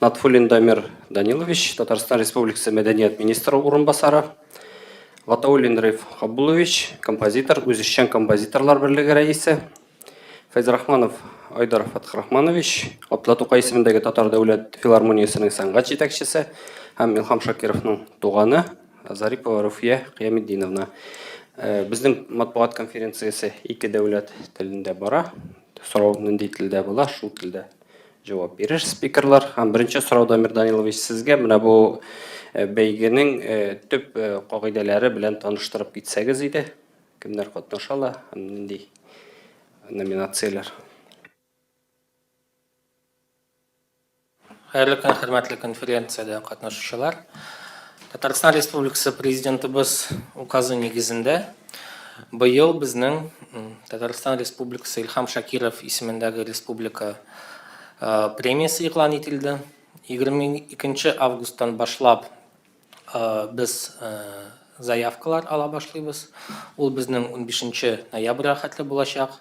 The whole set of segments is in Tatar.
Натфуллин Дамир Данилович, Татарстан Республикасы мәдәният министры урынбасары. Гатауллин Риф Хаббулович, композитор, Үзешчән композиторлар берлеге рәисе. Фәйзрахманов Айдар Фатхрахманович, Атла Тукай исемендәге Татар дәүләт филармониясенең сәнгать җитәкчесе һәм Илхам Шакировның туганы Зарипова Руфия Кыяметдиновна. Э, безнең матбугат конференциясе ике дәүләт телендә бара. Сорау нинди телдә була, шул телдә Җавап бирер спикерлар. Һәм беренче сорау Дамир Данилович сезгә менә бу э, бәйгенең э, төп э, кагыйдәләре белән таныштырып китсәгез иде. Кемнәр катнаша ала һәм нинди номинацияләр? Хәерле көн, хөрмәтле конференциядә катнашучылар. Татарстан Республикасы президентыбыз указы нигезендә Быел безнең Татарстан Республикасы Илхам Шакиров исемендәге республика премиясе игълан ителде. 22 августтан башлап без заявкалар ала башлыйбыз. Ул безнең 15 ноябрьгә хәтле булачак.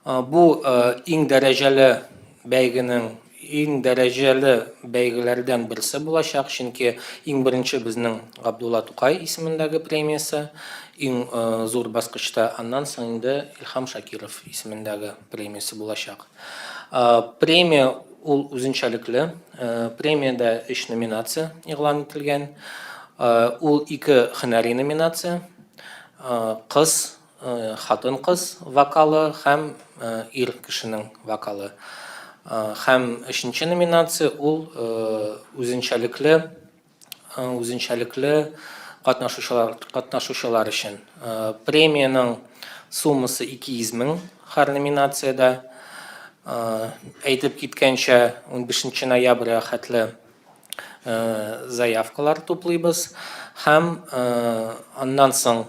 Бу иң дәрәҗәле бәйгенең Иң дәрәҗәле бәйгеләрдән берсе булачак, чөнки иң беренче безнең Габдулла Тукай исемендәге премиясе, иң зур баскычта, аннан соң инде Илһам Шакиров исемендәге премиясе булачак. Премия ул үзенчәлекле, премиядә өч номинация игълан ителгән, ул ике һөнәри номинация, кыз хатын-кыз вокалы һәм ир кешенең вокалы. Һәм өченче номинация ул үзенчәлекле үзенчәлекле катнашучылар катнашучылар өчен. Премиянең суммасы 200 мең һәр номинациядә. Әйтеп киткәнчә, 15 ноябрьгә хәтле заявкалар туплыйбыз һәм аннан соң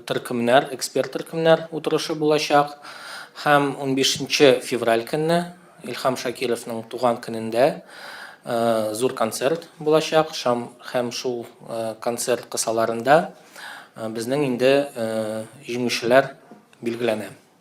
төркемнәр, эксперт төркемнәр утырышы булачак һәм 15 февраль көнне Илхам Шакировның туган көнендә зур концерт булачак һәм шул концерт кысаларында безнең инде җиңүчеләр билгеләнә.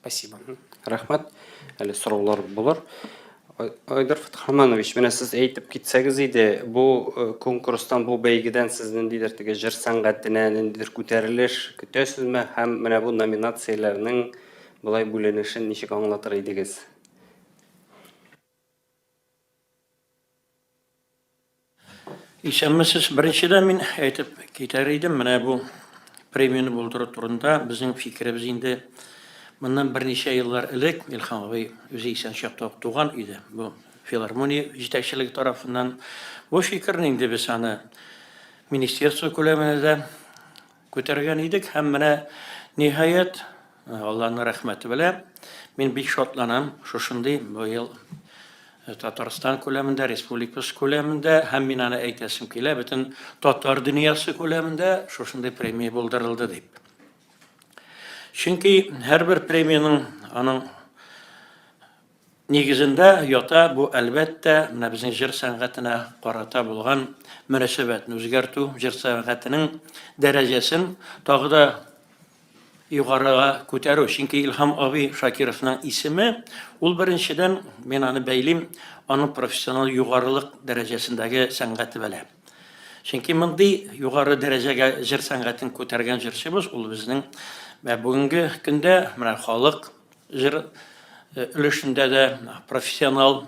Спасибо. Рәхмәт. Әле сораулар булыр. Айдар Фатхаманович, менә сез әйтеп китсәгез иде, бу э, конкурстан, бу бәйгедән сез ниндидер теге җыр сәнгатенә ниндидер күтәрелеш көтәсезме һәм менә бу номинацияләрнең болай бүленешен ничек аңлатыр идегез? Исәнмесез. Беренчедән мин әйтеп китәр идем, менә бу премияне булдыру турында безнең фикеребез инде моннан берничә еллар элек Илһам абый үзе исән чакта ук туган иде. Бу филармония җитәкчелеге тарафыннан бу фикерне инде без аны министерство күләменә дә Күтәргән идек һәм менә, ниһаять, Алланың рәхмәте белән, мин бик шатланам, шушындый быел Татарстан күләмендә, республикабыз күләмендә һәм мин аны әйтәсем килә, бөтен татар дөньясы күләмендә шушындый премия булдырылды дип. Чөнки һәрбер премиянең аның Нигезендә ята бу, әлбәттә, менә безнең җыр сәнгатенә карата булган мөнәсәбәтне үзгәртү, җыр сәнгатенең дәрәҗәсен тагы да югарыга күтәрү. Чөнки Илһам абый Шакировның исеме, ул беренчедән, мин аны бәйлим, аның профессиональ югарылык дәрәҗәсендәге сәнгате белән. Чөнки мондый югары дәрәҗәгә җыр сәнгатен күтәргән җырчыбыз, ул безнең бүгенге көндә менә халык Җыр өлешендә дә профессионал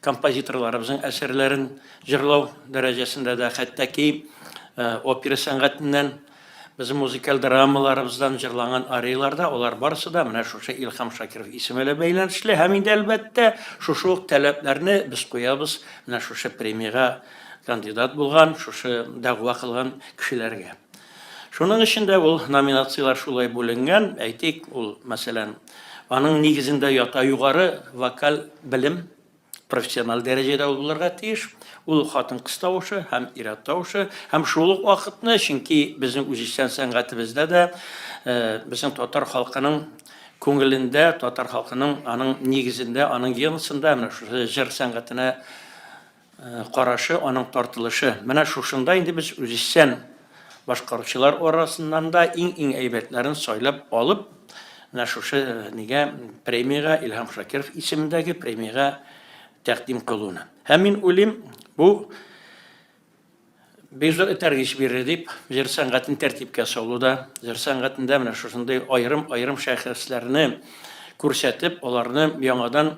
композиторларыбызның әсәрләрен җырлау дәрәҗәсендә дә, хәтта ки опера сәнгатеннән, безнең музыкаль драмаларыбыздан җырланган арияләр дә, алар барысы да менә шушы Илһам Шакиров исеме белән бәйләнешле. Һәм инде, әлбәттә, шушы ук таләпләрне без куябыз менә шушы премиягә кандидат булган, шушы дәгъва кылган кешеләргә. Шуның өчен дә ул номинацияләр шулай бүленгән. Әйтик, ул, мәсәлән, аның нигезендә ята югары вокаль белем, профессиональ дәрәҗәдә ул булырга тиеш. Ул хатын-кыз тавышы һәм ир-ат тавышы һәм шул ук вакытны, чөнки безнең үзешчән сәнгатебездә дә э, безнең татар халкының күңелендә, татар халкының аның нигезендә, аның геносында менә шушы җыр сәнгатенә карашы, аның тартылышы. Менә шушында инде без үзешчән башкаручылар арасыннан да иң-иң әйбәтләрен сайлап алып, менә шушы нигә премиягә, Илһам Шакиров исемендәге премиягә тәкъдим кылуны. Һәм мин уйлыйм, бу Биржа этәргеч бирер дип, җыр сәнгатен тәртипкә салуда, җыр сәнгатендә менә шушындый аерым-аерым шәхесләрне күрсәтеп, аларны яңадан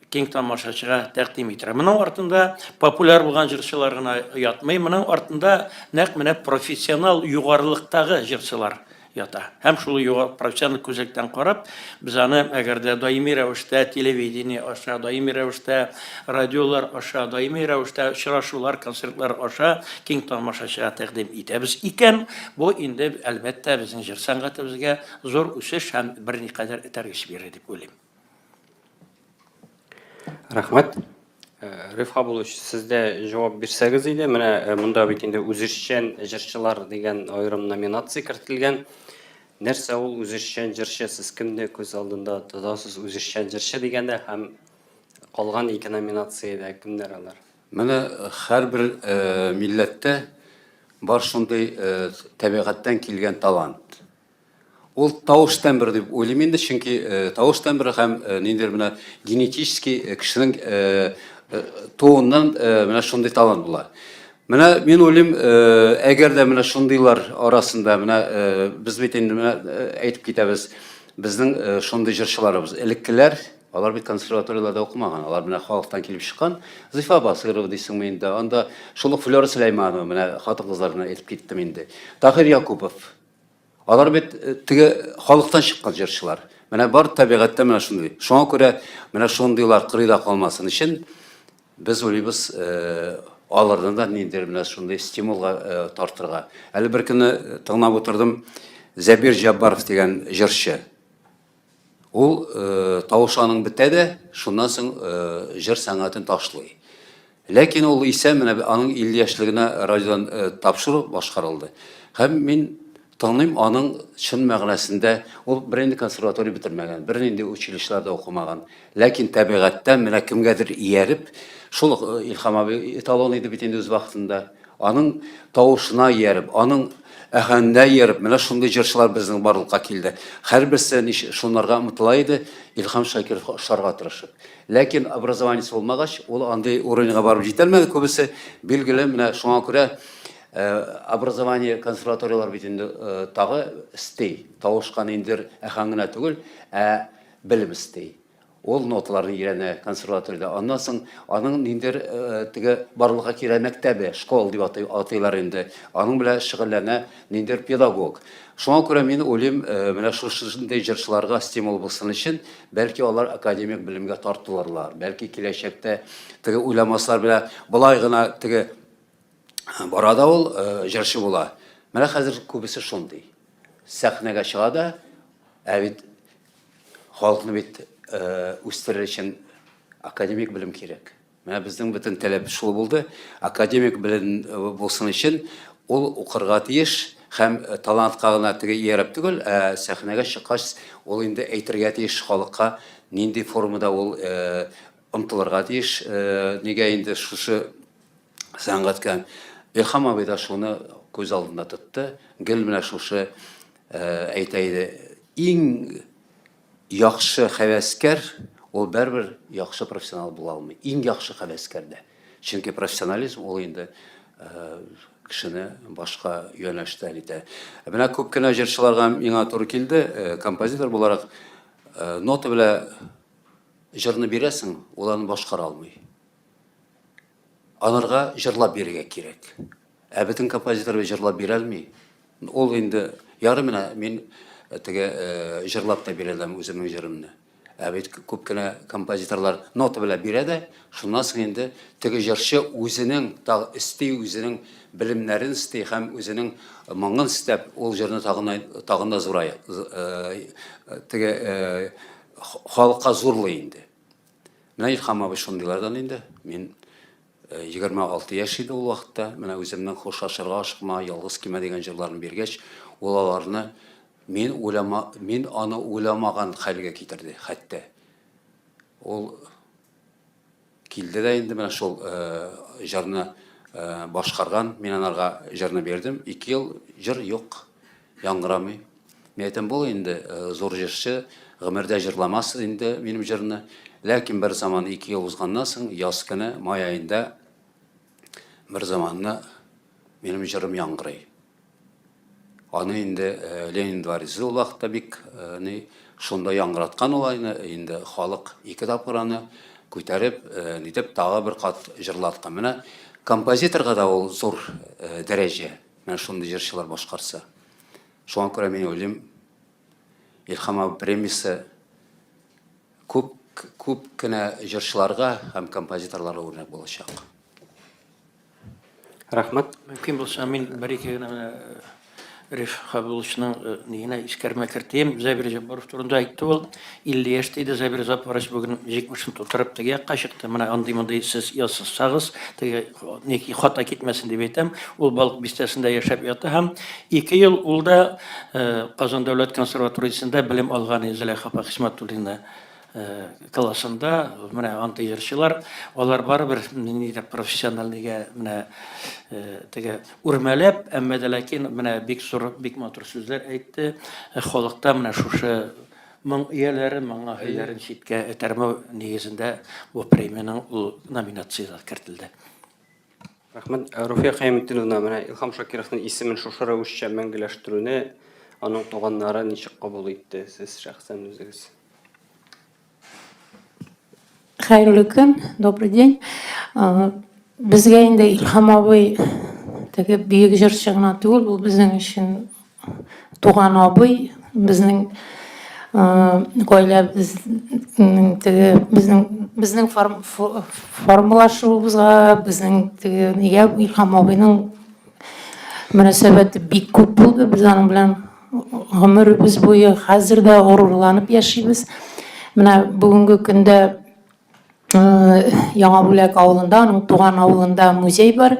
киң тамашачыга тәкъдим итәрә. Моның артында популяр булган җырчылар гына ятмый, моның артында нәкъ менә профессионал югарылыктагы җырчылар ята. Һәм шул югары профессиональ күзлектән карап, без аны әгәр дә даими рәвештә телевидение аша, даими рәвештә радиолар аша, даими рәвештә очрашулар, концертлар аша киң тамашачыга тәкъдим итәбез икән, бу инде әлбәттә безнең җыр сәнгатебезгә зур үсеш һәм берникадәр этәргеч бирер дип уйлыйм. Рәхмәт. Э, Риф Хабулович, сез дә җавап бирсәгез иде. Менә э, монда бит инде үзешчән җырчылар дигән аерым номинация кертелгән. Нәрсә ул үзешчән җырчы? Сез кемне күз алдында тотасыз үзешчән җырчы дигәндә һәм калган ике номинациядә кемнәр алар? Менә э, һәрбер милләттә бар шундый табигатьтән килгән талант. Ул тавыш тембры дип уйлыйм инде, чөнки тавыш тембры һәм ниндидер менә генетический кешенең туыннан менә шундый талант була. Менә мин уйлыйм, әгәр дә менә шундыйлар арасында менә без бит инде менә әйтеп китәбез, безнең шундый җырчыларыбыз, элеккеләр, алар бит консерваторияләрдә укымаган, алар менә халыктан килеп чыккан. Зифа Басыйрова дисеңме инде, анда шул ук Флера Сөләйманова, менә хатын-кызлар белән әйтеп киттем инде. Таһир Якупов, Алар бит э, теге халыктан чыккан җырчылар. Менә бар табигатьтә менә шундый. Шуңа күрә менә шундыйлар кырыйда калмасын өчен без уйлыйбыз э, аларны да ниндидер менә шундый стимулга э, тартырга. Әле бер көнне тыңлап утырдым Зәбир Җаббаров дигән җырчы. Ул тавышы аның бетә дә, шуннан соң җыр сәнгатен ташлый. Ләкин ул исә менә аның 50 яшьлегенә радиодан тапшыру башкарылды. Һәм мин тыңлыйм аның чын мәгънәсендә, ул бернинди консерватория бетермәгән, бернинди училищеларда укымаган. Ләкин тәбигатьтән менә кемгәдер ияреп, шул ук э, Илхам абый эталон иде бит инде үз вакытында. Аның тавышына ияреп, аның әһәненә ияреп, менә шундый җырчылар безнең барлыкка килде. Һәрберсе нич- шунларга омтыла иде, Илхам Шакиров ошарга тырышып. Ләкин образованиесе булмагач, ул андый уровеньга барып җитәлмәде күбесе. Билгеле, менә шуңа күрә э, образование консерваторияләр бит инде э, тагы стей, тавышка ниндидер әһәң генә түгел, ә белем эсти. Ул ноталарны өйрәнә консерваториядә. Аннан соң аның ниндидер теге барлыкка килә мәктәбе, школ дип атый, атыйлар инде. Аның белән шөгыльләнә ниндидер педагог. Шуңа күрә мин уйлыйм, менә шушындый җырчыларга стимул булсын өчен, бәлки алар академик белемгә тартылырлар. Бәлки киләчәктә теге уйламаслар белә, болай гына теге бара да ул җырчы була. Менә хәзер күбесе шундый. Сәхнәгә чыга да, ә бит халыкны бит үстерер өчен академик белем кирәк. Менә безнең бөтен таләп шул булды. Академик белем э, булсын өчен ул укырга тиеш һәм э, талантка гына теге ияреп түгел, ә сәхнәгә чыккач ул инде әйтергә тиеш халыкка нинди формада ул э, омтылырга тиеш. Нигә инде шушы сәнгатькә Илхам абый да шуны күз алдында тотты. Гел менә шушы әйтә иде, иң яхшы хәвәскәр ул бәрбер яхшы профессионал була алмый. Иң яхшы хәвәскәр дә. Чөнки профессионализм ул инде кешене башка юнәлештә итә. Менә күп кенә җырчыларга миңа туры килде, композитор буларак нота белән җырны бирәсең, ул аны башкара алмый. Аларга җырлап бирергә кирәк. Ә бөтен композиторыбыз җырлап бирәлми. Ул инде яры менә мин э, теге э, җырлап та бирәләм үземнең җырымны. Ә бит күп кенә композиторлар нота белән бирә дә, шуннан соң инде теге җырчы үзенең тагы өсти, үзенең белемнәрен өсти һәм үзенең моңын өстәп ул җырны тагын тагын да зурая э, теге э, халыкка зурлый инде. Менә Илхам абый шундыйлардан инде. Мин 26 э, яшь иде ул вакытта. Менә үземнең хушлашырга ашыкма, ялгыз кимә дигән җырларын биргәч, ул аларны мин уйлама, мин аны уйламаган хәлгә китерде, хәтта. Ул килде дә инде менә шул э, җырны э, башкарган, мин анарга җырны бирдем. 2 ел җыр юк. Яңгырамый. Мин әйтәм, бул инде зур җырчы, гомердә җырламас инде минем җырны. Ләкин бер заман ике ел узганнан соң, яз көне, май аенда бер заманны минем җырым яңгырый. Аны инде Ленин дворецы ул вакытта бик ни шунда яңгыраткан ул айны, инде халык ике тапкыр аны күтәреп, нитеп тагы бер кат җырлаткан. Менә композиторга да ул зур дәрәҗә. Менә шундый җырчылар башкарса. Шуңа күрә мин уйлыйм, Илһам абый премиясе күп күп кенә җырчыларга һәм композиторларга үрнәк булачак. Рәхмәт. Мөмкин булса, мин бер-ике генә менә э, Риф Хабиловичның э, нигенә искәрмә кертәм. Зәбир Җаббаров турында әйтте ул. 50 яшь диде Зәбир Запарович, бүген 70-н тутырып теге якка чыкты. Менә андый-мондый сез язсагыз, теге ники хата китмәсен дип әйтәм. Ул Балык бистәсендә яшәп ята һәм 2 ел ул да Казан дәүләт консерваториясендә белем алган Зөләйха апа Хисмәтуллина классында менә андый җырчылар, алар барыбер нидә профессиональныйга менә теге үрмәләп, әмма дә ләкин менә бик зур, бик матур сүзләр әйтте. Халыкта менә шушы Моң ияләре моңа һөйләрен читкә этәрмәү нигезендә бу премиянең ул номинациясенә кертелде. Рәхмәт. Руфия Хәймтдиновна, менә Илһам Шакировның исемен шушы рәвешчә мәңгеләштерүне аның туганнары ничек кабул итте, сез шәхсән үзегез? Хәерле көн, добрый день. Безгә инде Илһам абый теге бөек җырчы гына түгел, ул безнең өчен туган абый, безнең гаиләбез теге безнең безнең формалашуыбызга, безнең теге нигә Илһам абыйның мөнәсәбәте бик күп булды, без аның белән гомеребез буе хәзер дә горурланып яшибез. Менә бүгенге көндә Яңа Бүләк авылында, аның туган авылында музей бар.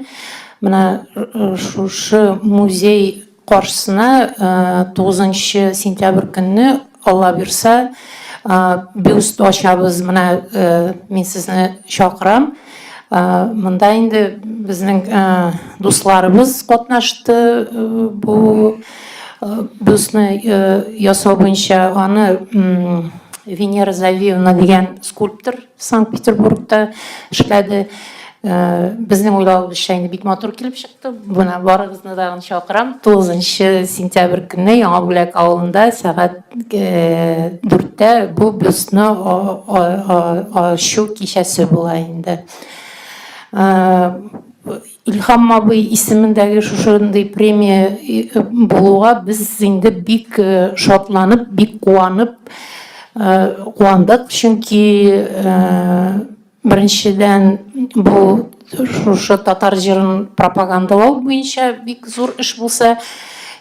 Менә шушы музей каршысына 9 сентябрь көнне Алла бирса, бюст ачабыз, менә мин сезне чакырам. Монда инде безнең дусларыбыз катнашты бу бюстны ясау буенча. Аны Венера Завиевна дигән скульптор Санкт-Петербургта эшләде. Безнең уйлавыбызча инде бик матур килеп чыкты. Менә барыгызны да чакырам. 9 сентябрь көнне Яңа Бүләк авылында сәгать 4-тә бу бюстны ачу кичәсе була инде. Илһам абый исемендәге шушындый премия э, булуга без инде бик э, шатланып, бик куанып э, куандык, чөнки беренчедән бу шушы татар җырын пропагандалау буенча бик зур эш булса,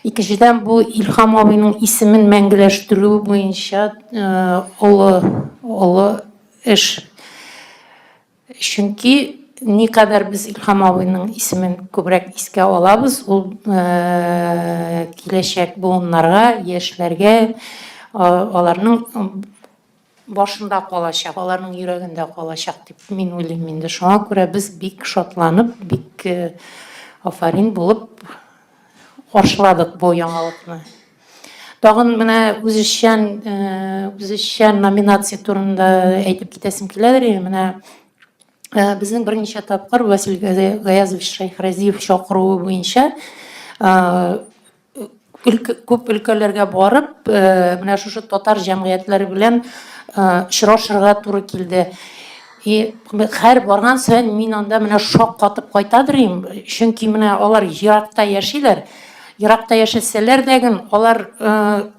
икенчедән бу Илһам абыйның исемен мәңгеләштерү буенча олы олы эш Чөнки никадәр без Илһам абыйның исемен күбрәк искә алабыз, ул киләчәк буыннарга, яшьләргә, аларның башында калачак, аларның йөрәгендә калачак дип мин уйлыйм инде. Шуңа күрә без бик шатланып, бик афәрин булып Каршыладык бу яңалыкны. Тагын менә үзешчән, үзешчән номинация турында әйтеп китәсем киләдер. Менә безнең берничә тапкыр Василий Гаязович Шәйхразиев чакыруы буенча күп өлкәләргә барып, менә шушы татар җәмгыятьләре белән очрашырга туры килде. И һәр барган саен мин анда менә шок катып кайтадыр идем, чөнки менә алар еракта яшиләр. Еракта яшәсәләр дә ген, алар э,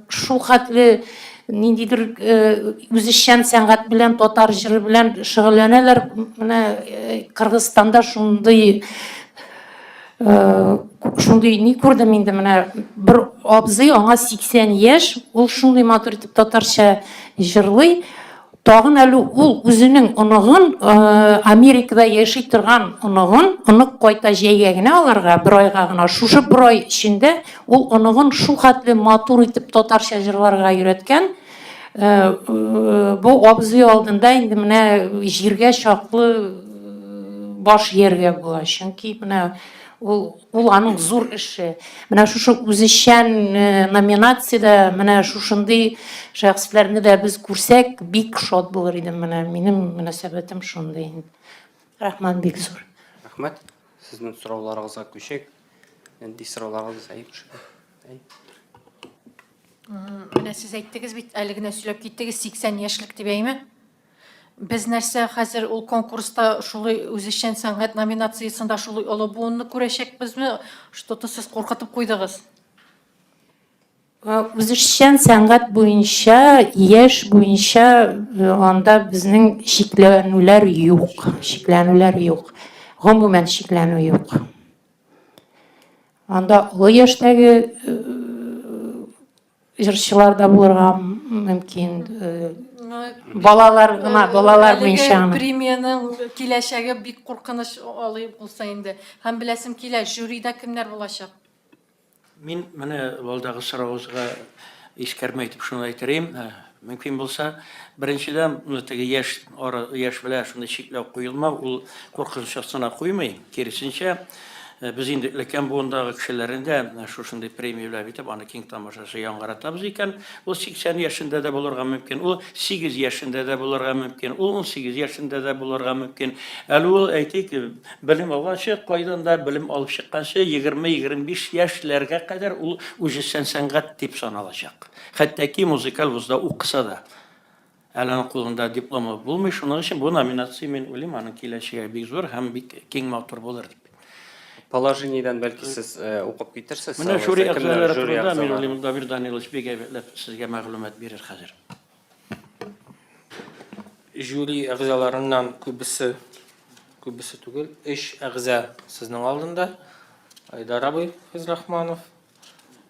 шул хәтле ниндидер э, үзешчән сәнгать белән, татар җыры белән шөгыльләнәләр. Менә э, Кыргызстанда шундый шундый ни күрдем инде менә бер абзый аңа 80 яшь ул шундый матур итеп татарча җырлый Тагын әле ул үзенең оныгын, Америкада яши торган оныгын, онык кайта җәйгә генә аларга, бер айга гына, шушы бер ай эчендә ул оныгын шул хәтле матур итеп татарча җырларга өйрәткән, бу абзый алдында инде менә җиргә чаклы баш ияргә була, чөнки менә ул Ул аның зур эше. Менә шушы үзешчән э, номинациядә менә шушындый шәхесләрне дә без күрсәк, бик шат булыр идем. Менә минем мөнәсәбәтем шундый. Рәхмәт бик зур. Рәхмәт. Сезнең сорауларыгызга күчик. Нинди сорауларыгыз әйбер шикелле. Әй. Менә сез әйттегез бит, әле генә сөйләп киттегез, 80 яшьлек дип әйме? Без нәрсә, хәзер ул конкурста шулай үзешчән сәнгать номинациясендә шулай олы буынны күрәчәкбезме? Что-то сез куркытып куйдыгыз. Э, үзешчән сәнгать буенча, яшь буенча э, анда безнең шикләнүләр юк. Шикләнүләр юк. Гомумән шикләнү юк. Анда олы яшьтәге э, Җырчылар да булырга мөмкин. Э, балалар гына, э, балалар буенча. Премиянең киләчәге бик куркыныч алый булса инде. Һәм беләсем килә, жюрида кемнәр булачак? Мин менә алдагы сорагызга искәрмә итеп шуны әйтер идем. Э, Мөмкин булса, беренчедән, теге яшь ара, яшь белән шундый чикләү куелмау, ул куркыныч астына куймый. Киресенчә, без инде өлкән буындагы кешеләрне дә шушындый премияләп итеп, аны киң тамашачы яңгыратабыз икән, ул 80 яшендә дә булырга мөмкин, ул 8 яшендә дә булырга мөмкин, ул 18 яшендә дә булырга мөмкин. Әле ул, әйтик, белем алганчы, кайдан да белем алып чыкканчы, 20-25 яшьләргә кадәр ул үҗессән сәнгать дип саналачак. Хәтта ки музыкаль вузда укыса да, әле аның кулында дипломы булмый, шуның өчен бу номинация, мин уйлыйм, аның киләчәге бик зур һәм бик киң матур булыр дип. Положениедән бәлки сез э, укып китерсез. Менә жюри әгъзалары турында, мин уйлыйм, Дамир Данилович бик әйбәтләп сезгә мәгълүмат бирер хәзер. Жюри әгъзаларыннан күбесе, күбесе түгел, өч әгъза сезнең алдында. Айдар абый Физрахманов,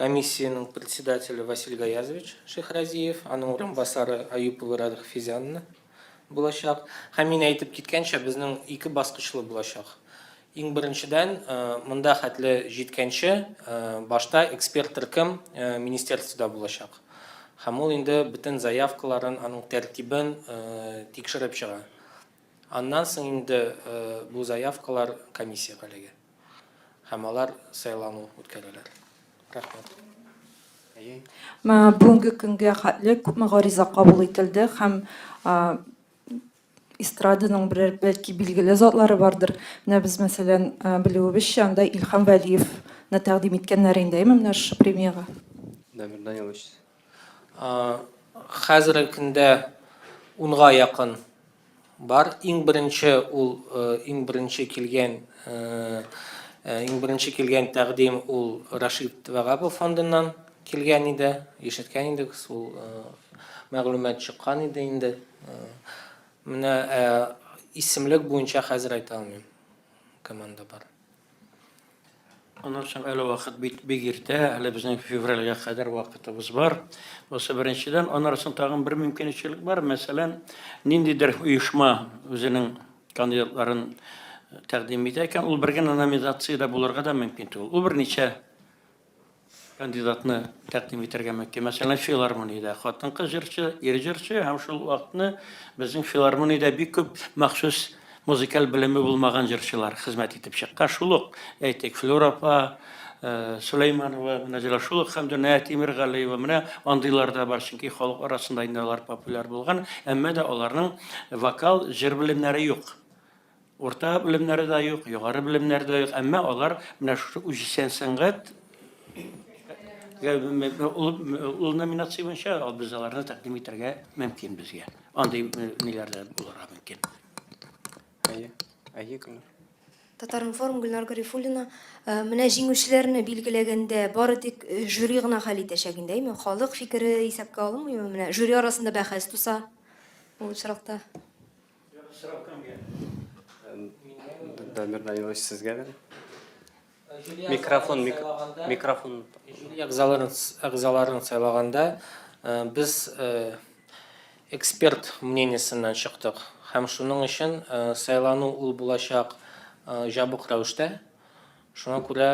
Комиссиянең председателе Василь Гаязович Шехразиев, аның урынбасары Аюпова Радхфизянна булачак. Һәм мин әйтеп киткәнчә, безнең ике баскычлы булачак. Иң беренчедән, монда хәтле җиткәнче, башта эксперт төркем министерствода булачак. Һәм ул инде бөтен заявкаларын, аның тәртибен тикшереп чыга. Аннан соң инде бу заявкалар комиссиягә эләгә. һәм алар сайлану үткәрәләр. Рәхмәт. Менә бүгенге көнгә хәтле күпме гариза кабул ителде һәм эстраданың берәр бәлки билгеле затлары бардыр. Менә без мәсәлән, белүебезчә, анда Илһам Вәлиевны тәкъдим иткәннәр инде, әйеме, менә шушы премиягә? Дамир Данилович. Хәзерге көндә унга якын Бар, иң беренче ул, иң беренче килгән, иң беренче килгән тәкъдим ул Рашид Вагапов фондыннан килгән иде, ишеткән идек, ул мәгълүмат чыккан иде инде. Менә исемлек буенча хәзер әйтә алмыйм. Команда бар. Аннан соң әле вакыт бит бик иртә, әле безнең февральгә кадәр вакытыбыз бар. Бусы беренчедән, аннан соң тагын бер мөмкинчелек бар. Мәсәлән, ниндидер оешма үзенең кандидатларын э, тәкъдим итә икән, ул бер генә номинациядә булырга да мөмкин түгел. Ул берничә Кандидатны тәкъдим итәргә мөмкин. Мәсәлән, филармониядә хатын-кыз җырчы, ир җырчы һәм шул вакытны безнең филармониядә бик күп махсус музыкаль белеме булмаган җырчылар хезмәт итеп чыккан. Шул ук, әйтик, Флюра апа, Сөләйманова, менә җырлар. Шул ук Хәмдүнә Тимергалиева, менә андыйлар да бар, чөнки халык арасында инде алар популяр булган, әмма да аларның вокал, җыр белемнәре юк. Урта белемнәре дә юк, югары белемнәре дә юк, әмма алар менә шушы үзешчән сәнгать ул номинация буенча без аларны тәкъдим итәргә мөмкин безгә. Андый ниләр дә булырга мөмкин. Әйе, әйе, Гөлнар. Татаринформ Гөлнар Гарифуллина, менә җиңүчеләрне билгеләгәндә бары тик жюри гына хәл итәчәк инде, әйме? Халык фикере исәпкә алынмыймы? Менә жюри арасында бәхәс туса, ул очракта. Сорау кемгә? Дамир Данилович, сезгә бер. Микрофон, микрофон. Жюри әгъзаларын сайлаганда э, без э, эксперт мнениесеннән чыктык. Һәм шуның өчен э, сайлану ул булачак җабык рәвештә. Шуңа күрә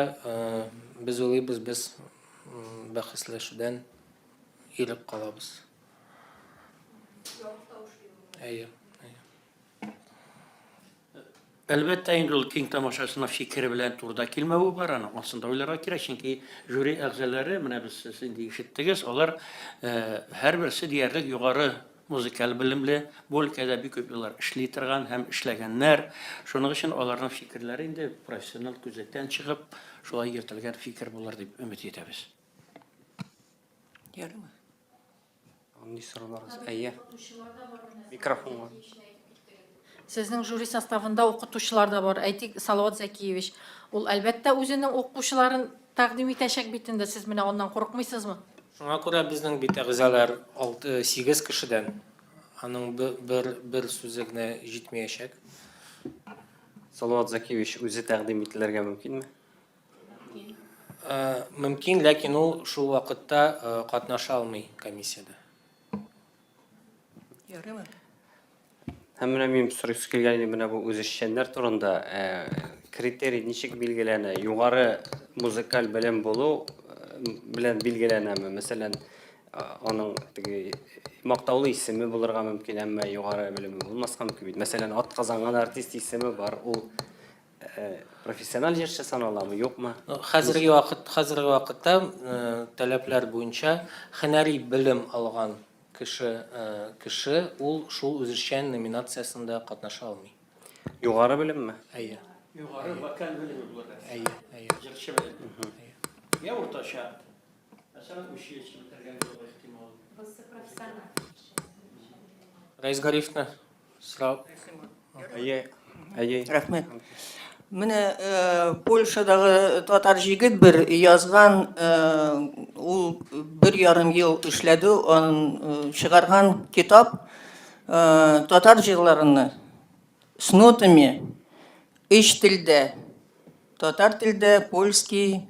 без уйлыйбыз, без бәхәсләшүдән ирек калабыз. Әйе. Әлбәттә, инде ул киң тамашасына фикере белән турыда килмәве бар, аны ансында уйларга кирәк, чөнки жюри әгъзалары, менә без сез инде ишеттегез, алар э, һәрберсе диярлек югары музыкаль белемле, бу өлкәдә бик күп еллар эшли торган һәм эшләгәннәр. Шуның өчен аларның фикерләре инде профессиональ күзлектән чыгып, шулай йөртелгән фикер булыр дип өмет итәбез. Ярыймы? Андый сорыларыз. Әйе. Микрофонга. Сезнең жюри составында укытучылар да бар. Әйтик, Салават Зәкиевич. Ул әлбәттә үзенең укучыларын тәкъдим итәчәк бит инде. Сез менә аннан курыкмыйсызмы? Шуңа күрә безнең бит әгъзалар 6-8 кешедән. Аның бер бер сүзе генә җитмәячәк. Салават Зәкиевич үзе тәкъдим ителергә мөмкинме? Мөмкин, ләкин ул шул вакытта катнаша алмый комиссиядә. Ярыймы? Һәм менә мин сорыйсы килгән иде менә бу үзешчәннәр турында. Критерий ничек билгеләнә? Югары музыкаль белем булу белән билгеләнәме? Мәсәлән, аның теге мактаулы исеме булырга мөмкин, әмма югары белеме булмаска мөмкин бит. Мәсәлән, атказанган артист исеме бар, ул профессиональ җырчы саналамы, юкмы? Хәзерге вакыт, хәзерге вакытта таләпләр буенча һөнәри белем алган кеше, кеше ул шул үзешчән номинациясендә катнаша алмый. Югары белемме? Әйе. Югары вокаль белеме булырга. Әйе, әйе. Җырчы белеме? Әйе. Я уртача. Рәис Гарифны сорап. Әйе, әйе. Рәхмәт. Менә э, Польшадагы татар җигет бер язган, э, ул бер ярым ел эшләде, он э, чыгарган китап э, татар җырларыны с нотами, өч телдә, татар телдә, польский,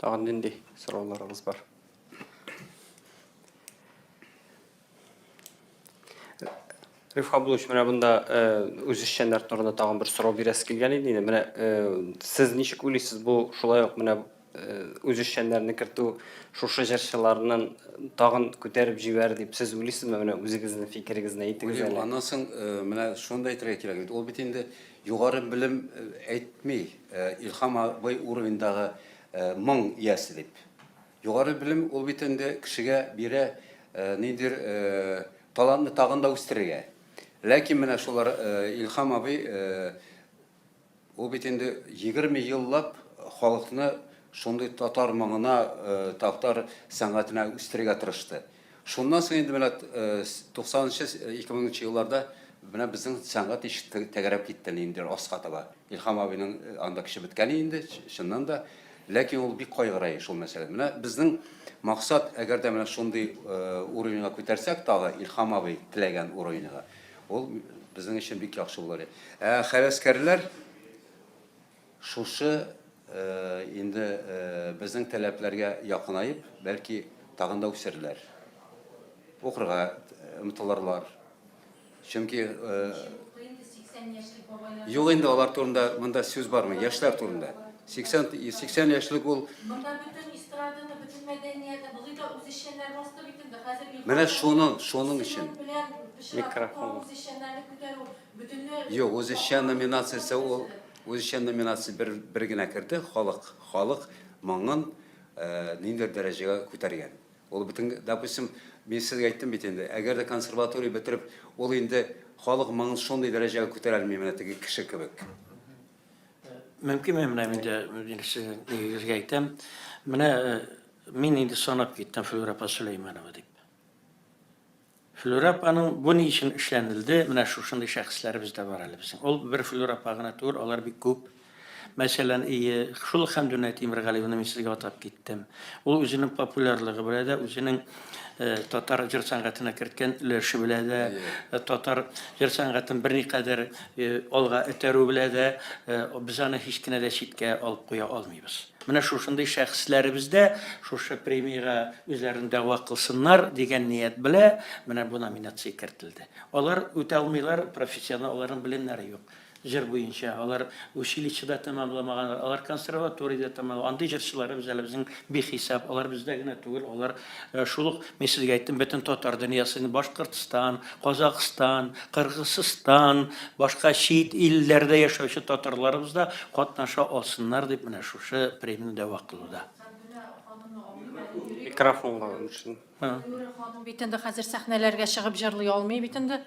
Тагын нинди сорауларыгыз бар? Риф Абдулович, менә монда э, үз эшчәннәр турында тагын бер сорау бирәсе килгән иде инде. Менә э, сез ничек уйлыйсыз, бу шулай ук менә э, үз эшчәннәрне кертү шушы җырчыларның тагын күтәреп җибәр дип сез уйлыйсызмы? Менә үзегезнең фикерегезне әйтегез әле. Аннан соң менә шундый әйтергә кирәк бит. Ул бит инде югары белем әйтми. Илһам абый уровеньдагы моң иясе дип. Югары белем ул бит инде кешегә бирә ниндидер талантны тагын да үстерергә. Ләкин менә шулар Илһам абый ул бит инде 20 еллап халыкны шундый татар моңына, татар сәнгатенә үстерергә тырышты. Шуннан соң инде менә туксанынчы, ике меңенче елларда менә безнең сәнгать ич тәгәрәп китте әле инде аска таба. Илһам абыйның анда көче беткәли инде, чыннан да. Ләкин ул бик кайгырай шул мәсьәләдән. Менә безнең максат, әгәр дә менә шундый уровеньга күтәрсәк тагы, Илһам абый теләгән уровеньга, ул безнең өчен бик яхшы булыр иде. Ә хәвәскәрләр? Шушы инде безнең таләпләргә якынаеп, бәлки, тагын да үсерләр, укырга омтылырлар. Чөнки юк инде алар турында монда сүз бармый, яшьләр турында. 80 80 яшьлек ул Монда бөтен эстраданы, бөтен мәдәниятне, болай да үзешчәннәр басты бит инде. Хәзер Менә шуны, шуның өчен. Микрофон. Үзешчәннәрне күтәрү Юк, үзешчән номинациясе ул үзешчән номинация бер, бер генә керде, халык, халык моңын э, ниндидер дәрәҗәгә күтәргән. Ул бөтен, допустим, мин сезгә әйттем бит инде, әгәр дә консерватория бетереп, ул инде халык моңын шундый дәрәҗәгә күтәрә алмый менә теге кеше кебек. Мөмкин мин менә инде нигезгә әйтәм. Менә э, мин инде санап киттем Флюра Сөләйманова дип. Флүрә апаның бу ни өчен эшләнелде, менә шушындый шәхесләребез дә бар әле безнең. Ул бер Флүрә апа гына түгел, алар бик күп. Мәсәлән, ие, шул ук Хәмдүнә Тимергалиеваны мин сезгә атап киттем. Ул үзенең популярлыгы белән дә, үзенең татар җыр сәнгатенә керткән өлеше белән дә, татар җыр сәнгатен берникадәр алга этәрү белән дә без аны һич кенә дә читкә алып куя алмыйбыз. Менә шушындый шәхесләребез дә шушы премиягә үзләрен дәгъва кылсыннар дигән ният белә менә бу номинация кертелде. Алар үтә алмыйлар, профессиональ аларның белемнәре юк. Җыр буенча алар училище да тәмамламаганнар, алар консерватория дә тәмамламаган. Андый җырчыларыбыз әле безнең бихисап, алар бездә генә түгел, алар Ә шул ук мин сезгә әйттем, бөтен татар дөньясын, Башкортстан, Казакъстан, Кыргызстан, башка чит илләрдә яшәүче татарларыбыз да катнаша алсыннар дип менә шушы премияне дәва кылуда. Микрофонга үтсен. Юрий ханым бит инде хәзер сәхнәләргә чыгып җырлый алмый бит инде.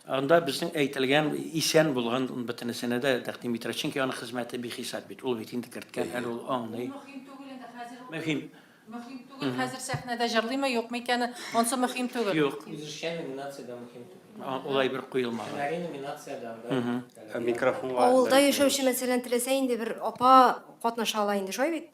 Анда безнең әйтелгән исән булган бөтенесенә дә тәкъдим итәргә, чөнки аның хезмәте бихисап бит, ул бит инде керткән, әле ул аңлый. Мөһим түгел инде хәзер. Мөһим. Мөһим түгел, хәзер сәхнәдә җырлыймы, юкмы икәне, онсы мөһим түгел. Юк. Үзешчән номинациядә мөһим түгел. Улай бер куелмаган. Һөнәри номинациядә анда. Микрофонга. Авылда яшәүче мәсәлән теләсә инде бер апа катнаша ала инде, шулай бит?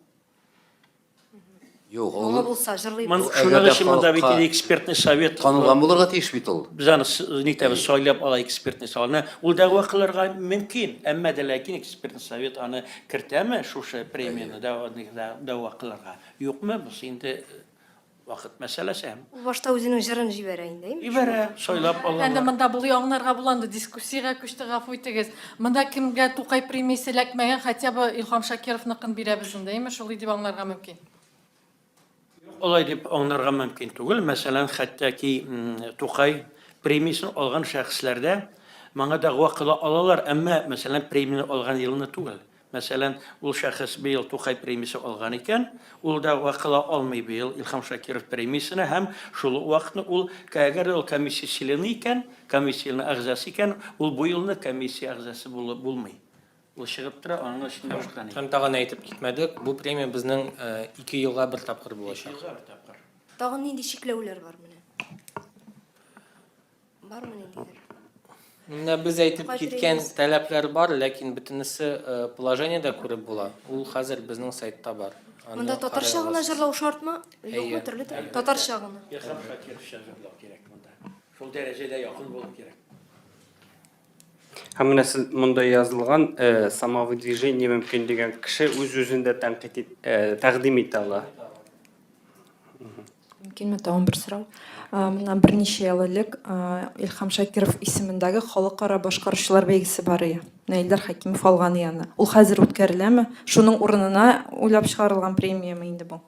Юк, ул булса җырлый. Шуның өчен монда бит экспертный совет. Танылган булырга тиеш бит ул. Без аны нитәбез, сайлап ала экспертный советны. Ул да вакылырга мөмкин, әмма дә ләкин экспертный совет аны Кертәме шушы премияне дәва кылырга, юкмы, бусы инде вакыт мәсьәләсе һәм. Ул башта үзенең җырын җибәрә инде. Җибәрә, сайлап алалар. Әнде монда булуы аңнарга була анда дискуссиягә күчте, гафу итегез. Монда кемгә Тукай премиясе эләкмәгән, хотя бы Илһам Шакировныкын бирәбез инде, әйме шулый дип аңларга мөмкин. Алай дип аңнарга мөмкин түгел. Мәсәлән, хәтта ки Тукай премиясен алган шәхесләрдә моңа дәгъва кыла алалар, әмма, мәсәлән, премияне алган елны түгел. Мәсәлән, ул шәхес быел Тукай премиясе алган икән, ул дәгъва кыла алмый быел Илһам Шакиров премиясенә һәм шул ук вакытны ул, әгәр дә ул комиссия члены икән, комиссиянең әгъзасы икән, ул бу елны комиссия әгъзасы булып булмый. Ул чыгып тора, аның өчен дә ушкан. Һәм тагын әйтеп китмәдек, бу премия безнең ике елга бер тапкыр булачак. Ике елга бер тапкыр. Тагын нинди чикләүләр бар менә? Бармы ниндидер? Менә без әйтеп киткән таләпләр бар, ләкин бөтенесе положениедә күреп була. Ул хәзер безнең сайтта бар. Монда татарча гына җырлау шартмы? Юкмы төрле тел? Татарча гына. Илһам Шакировча җырлау кирәк монда. Шул дәрәҗәдә якын булып кирәк. Һәм менә сез монда язылган э, самовыдвижение мөмкин дигән кеше үз-үзен дә тәнкыйть ит- э, тәкъдим итә ала. Мөмкинме тагын бер сорау? А, Моннан берничә ел элек а, Илһам Шакиров исемендәге халыкара башкаручылар бәйгесе бар иде. Наилдар Хәкимов алган иде аны. Ул хәзер үткәреләме? Шуның урынына уйлап чыгарылган премиямы инде бу?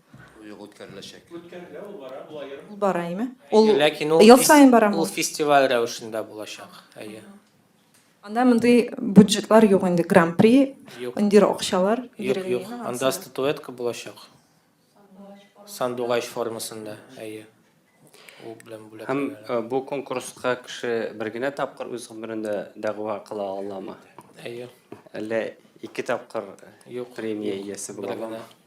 Юк, үткәреләчәк. Үткәрелә, ул бара, ул аерым. Ул бара, әйме? Ул Ләкин ул ел саен барамы? Ул фестиваль рәвешендә булачак. Әйе. Анда мондый бюджетлар юк инде, гран-при, индир акчалар. Юк, юк. Анда статуэтка булачак. Сандугач формасында, әйе. Ул белән бүләк. Һәм бу конкурска кеше бер генә тапкыр үз гомерендә дәгъва кыла аламы? Әйе. Әллә ике тапкыр премия иясе була аламы?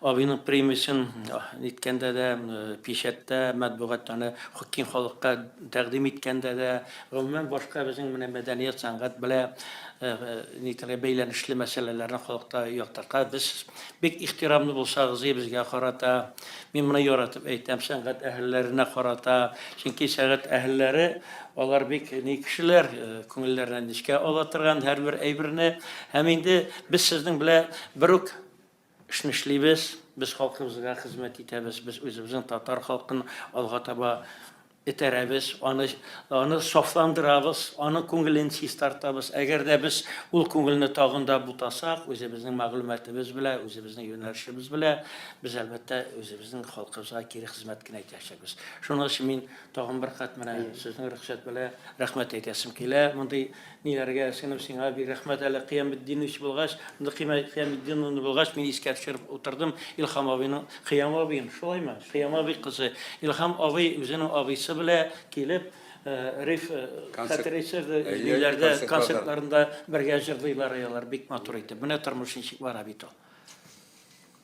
Абыйның премиясен ниткәндә дә, печәттә, матбугатта аны киң халыкка тәкъдим иткәндә дә, гомумән, башка безнең менә мәдәният, сәнгать белә нитәргә бәйләнешле мәсьәләләрне халыкта яктыртка без бик ихтирамлы булсагыз, безгә карата, мин моны яратып әйтәм, сәнгать әһелләренә карата, чөнки сәнгать әһелләре алар бик ни кешеләр, күңелләренә нечкә ала торган һәрбер әйберне, һәм инде без сезнең белән бер үк Эшне эшлибез, без халкыбызга хезмәт итәбез, без үзебезнең татар халкын алга таба этәрәбез, аны, аны сафландырабыз, аның күңелен чистартабыз. Әгәр дә без ул күңелне тагын да бутасак, үзебезнең мәгълүматыбыз белән, үзебезнең юнәлешебез белән, без, әлбәттә, үзебезнең халкыбызга кире хезмәт кенә итәчәкбез. Шуның өчен мин тагын бер кат менә сезнең рөхсәт белән рәхмәт әйтәсем килә, мондый Ниләргә сеңеп сиңа бик рәхмәт әле Кыяметдинович булгач, инде Кыяметдиновна булгач мин искә төшереп утырдым Илхам абыйның Кыям абыен, шулаймы? Кыям абый кызы Илхам абый үзенең абыйсы белә килеп Риф хәтерәйсез ниләрдә концертларында бергә җырлыйлар алар бик матур итеп менә тормыш ничек бара бит ул.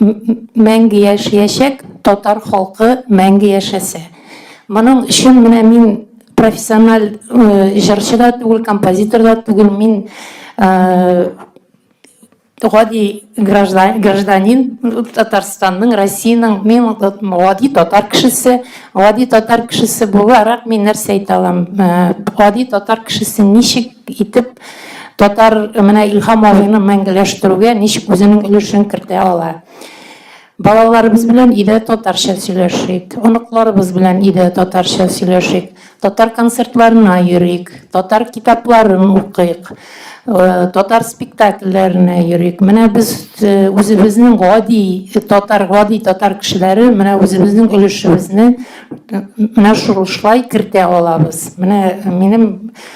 мәңге яшәячәк татар халкы мәңге яшәсә. Моның өчен менә мин профессиональ җырчы да түгел, композитор да түгел, мин гади гражданин Татарстанның, Россиянең, мин гади татар кешесе, гади татар кешесе буларак мин нәрсә әйтә алам, гади татар кешесе ничек итеп Татар менә Илһам абыйны мәңгеләштерүгә ничек үзенең өлешен кертә ала? Балаларыбыз белән өйдә татарча сөйләшик, оныкларыбыз белән өйдә татарча сөйләшик, татар концертларына йөрик, татар китапларын укыйк, э, татар спектакльләренә йөрик. Менә без э, үзебезнең гади татар, гади татар кешеләре менә үзебезнең өлешебезне э, менә шулай кертә алабыз. Менә минем